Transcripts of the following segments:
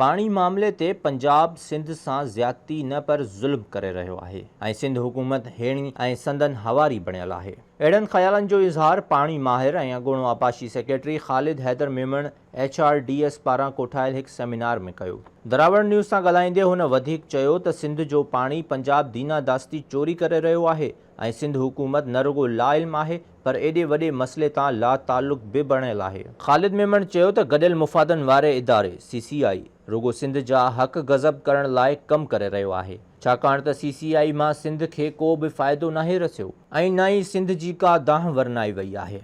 پاڻي معاملي تي پنجاب سنڌ سان زيادتي نه پر ظلم ڪري رهيو آهي ۽ سنڌ حڪومت هيڻي ۽ سندن هواري بڻيل آهي. اهڙن خيالن جو اظهار پاڻي ماهر ۽ اڳوڻو آبپاشي secretary Khalid Haider Memon H R D S پاران ڪوٺايل هڪ سيمينار ۾ ڪيو. دراوڙ نيوز سان ڳالهائيندي هن وڌيڪ چيو ته سنڌ جو پاڻي پنجاب دينا داستي چوري ڪري رهيو آهي ۽ سنڌ حڪومت نه رڳو لاعلم آهي پر ايڏي وڏي مسئلي تان لاتعلق به بڻيل آهي. خالد ميمڻ چيو ته گڏيل مفادن واري اداري سي سي آء رڳو سنڌ جا حق غضب ڪرڻ لاء ڪم ڪري رهيو آهي ڇاڪاڻ ته سي سي آء مان سنڌ کي ڪو به فائدو ناهي رسيو ۽ نه ئي سنڌ جي ڪا دانهن ورنائي وئي آهي.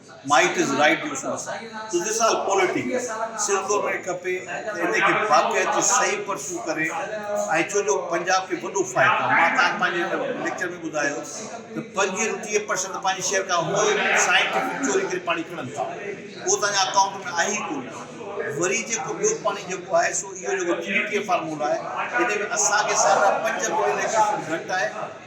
مائيٽ از رائيٽ يوسف صاحب تنهنجي سال پوليٽيڪ سر کور ۾ کپي ته انهي کي باقاعدي صحيح پرچون ڪري ۽ ڇو جو پنجاب کي وڏو فائدو آهي مان تان پنهنجي هن ليڪچر ۾ ٻڌايو ته پنجويهه رون ٽيهه پرسنٽ پنهنجي شيئر کان هو سائنٽيفڪ چوري ڪري پاڻي کڻن ٿا اهو تان جي اڪائونٽ ۾ آهي ئي ڪونه وري جيڪو ٻيو پاڻي جيڪو آهي سو اهو جيڪو ٽي ٽي اي فارمولا آهي انهي ۾ اسان کي ساڍا پنج ملين ايڪڙ کان گهٽ آهي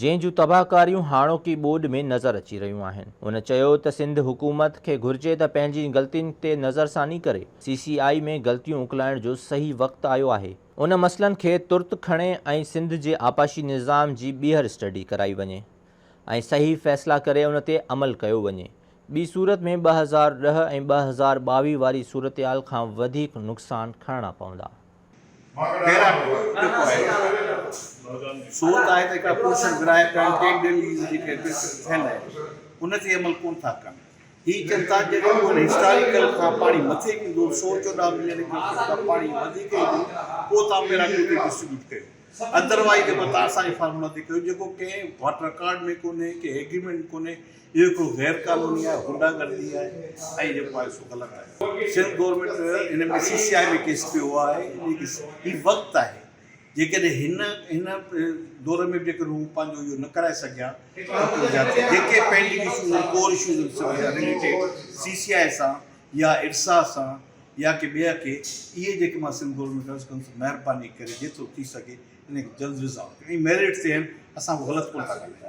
جنهن جون تباهڪاريون هاڻوڪي ٻوڏ ۾ نظر اچي رهيون آهن. هن چيو ته سنڌ حڪومت کي گهرجي ته پنهنجين غلطين تي نظرثاني ڪري، سي سي آء ۾ غلطيون اڪلائڻ جو صحيح وقت آيو آهي. ان مسئلن کي ترت کڻي ۽ سنڌ جي آبپاشي نظام جي ٻيهر اسٽڊي ڪرائي وڃي ۽ صحيح فيصلا ڪري ان تي عمل ڪيو وڃي. ٻي صورت ۾ ٻه هزار ڏهه ۽ ٻه هزار ٻاويهه واري صورتحال کان وڌيڪ نقصان کڻڻا پوندا. پيرا ٽو جيڪو آهي سو ته آهي ته هڪ اپريشن ورهائي پيڻ ٽين ڏينهن جي جيڪي اپريشن ٿيل آهي ان تي عمل ڪونه ٿا ڪن هي چون ٿا جي جيڪو ان هسٽاريڪل کان پاڻي مٿي ڪندو سو چوڏهن ملين ڪيوبڪ فٽ کان پاڻي وڌيڪ ايندو پوء تان پيرا ٽو تي ڊسٽريبيوٽ ڪيو ادروائيز جيڪو توهان اسان جي فارم نٿي ڪيو جيڪو ڪنهن وٽ رڪارڊ ۾ ڪونهي ڪنهن ايگريمينٽ ۾ ڪونهي اهو هڪڙو غير قانوني آهي غنڊا گردي آهي ۽ جيڪو آهي سو غلط آهي سنڌ گورنمينٽ جو ان ۾ سي سي آء ۾ ڪيس پيو آهي هي وقت آهي جيڪڏهن هن هن دور ۾ به جيڪڏهن هو پنهنجو اهو نه ڪرائي سگهيا ته جيڪي پينڊنگ اشوز آهن ڪور اشوز آهن سي سي آء سان يا ارساء سان يا ڪي ٻئي کي اهي جيڪي مان سنڌ بورڊ ۾ درج ڪندس مهرباني ڪري جيترو ٿي سگهي انهن کي جلد ريزالو ڪيو ۽ ميرٽ تي آهن اسان ڪو غلط ڪونه ٿا ڳالهايون.